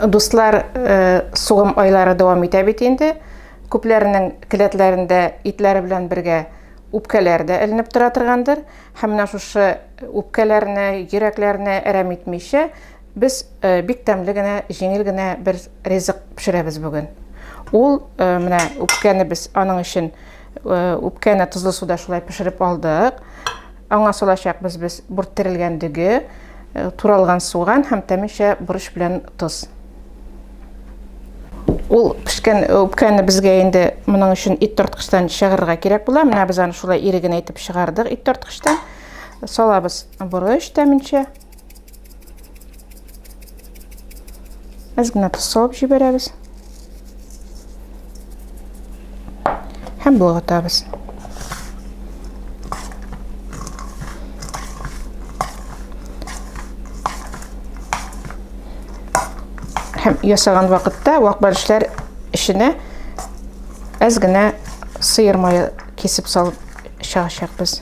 Дуслар, сугым айлары дәвам итә бит инде. Күпләренең келәтләрендә итләре белән бергә үпкәләр дә эленеп тора торгандыр. Һәм менә шушы үпкәләрне, йөрәкләрне әрәм итмичә, без бик тәмле генә, җиңел генә бер ризык пешерәбез бүген. Ул менә үпкәне без аның өчен Э, үпкәне тозлы суда шулай пешереп алдык аңа салачакбыз без бүрт терелгән дөге э, туралган суган һәм тәминчә борыч белән тоз ул пешкән э, үпкәне безгә инде моның өчен ит тарткычтан чыгарырга кирәк була менә без аны шулай иреген әйтеп чыгардык ит тарткычтан салабыз борыч тәминчә Без генә тосалып җибәрәбез. Һәм болгатабыз. Һәм ясаган вакытта вак бәлешләр эченә әз генә сыер мае кисеп салып чыгачакбыз.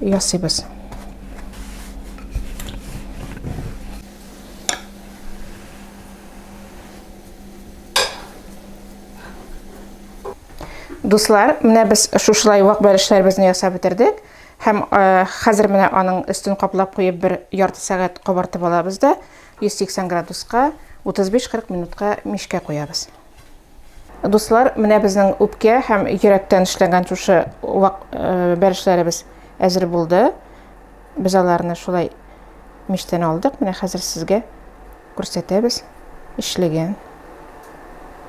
ясыйбыз. Дуслар, менә без шушылай вак бәлешләребезне ясап бетердек. Һәм э, хәзер менә аның өстен каплап куеп бер ярты сәгать кабартып алабыз да 180 градуска 35-40 минутка мишкә куябыз. Дуслар, менә безнең үпкә һәм йөрәктән эшләнгән шушы вак э, бәрешләребез әзер булды. Без аларны шулай миштән алдык. Менә хәзер сезгә күрсәтәбез эшлеген.